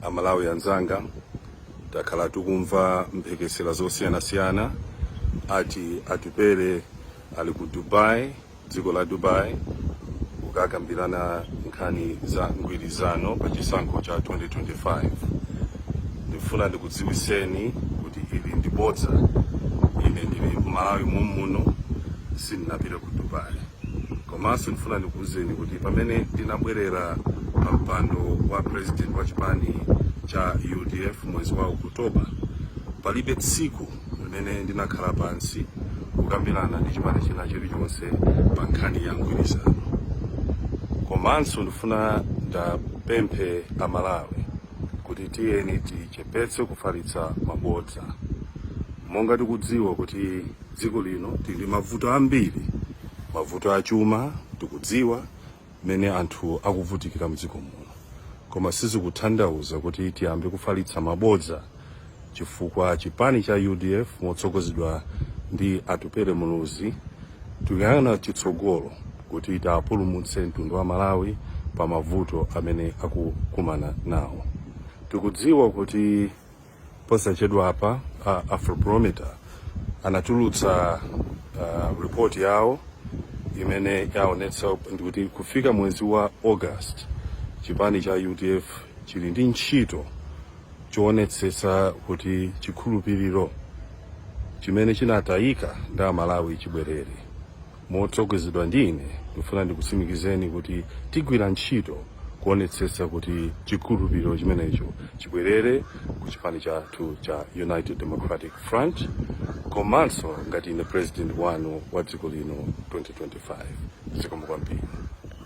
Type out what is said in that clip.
amalawi anzanga takhala tikumva mphekesera zosiyanasiyana ati atupele ali ku dubai dziko la dubai kukakambirana nkhani za mgwirizano pa chisankho cha 2025 ndifuna ndikudziwiseni kuti ili ndi bodza ine ndili mmalawi momuno sindinapite ku dubai komanso ndifuna ndikuwuzeni kuti pamene ndinabwerera pa mpando wa president wa chipani cha udf mwezi wa okutoba palibe tsiku limene ndinakhala pansi kukambirana ndi chipani china chilichonse pa nkhani ya mgwirizano komanso ndifuna ndapemphe amalawi kuti tiyeni tichepetse kufalitsa mabodza monga tikudziwa kuti Dziko lino tili ndi mavuto ambiri, mavuto achuma, tikudziwa mmene anthu akuvutikira mdziko muno, koma sizikuthandauza kuti tiyambe kufalitsa mabodza chifukwa chipani cha udf motsogozedwa ndi Atupele Muluzi tikuyang'ana chitsogolo kuti tapulumutse mtundu wa Malawi pa mavuto amene akukumana nawo. Tikudziwa kuti Posachedwapa a Afrobarometer anatulutsa uh, report yawo imene yaonetsa kuti kufika mwezi wa August chipani cha UDF chili ndi ntchito choonetsetsa kuti chikhulupiriro chimene chinatayika ndi amalawi chibwerere. Motsogozedwa ndi ine, ndikufuna ndikutsimikizeni kuti tigwira ntchito kuonetsetsa kuti chikhulupiriro chimenecho chibwerere ku chipani chathu cha United Democratic Front komanso ngati ine president wanu wa dziko lino 2025. Zikomo kwambiri.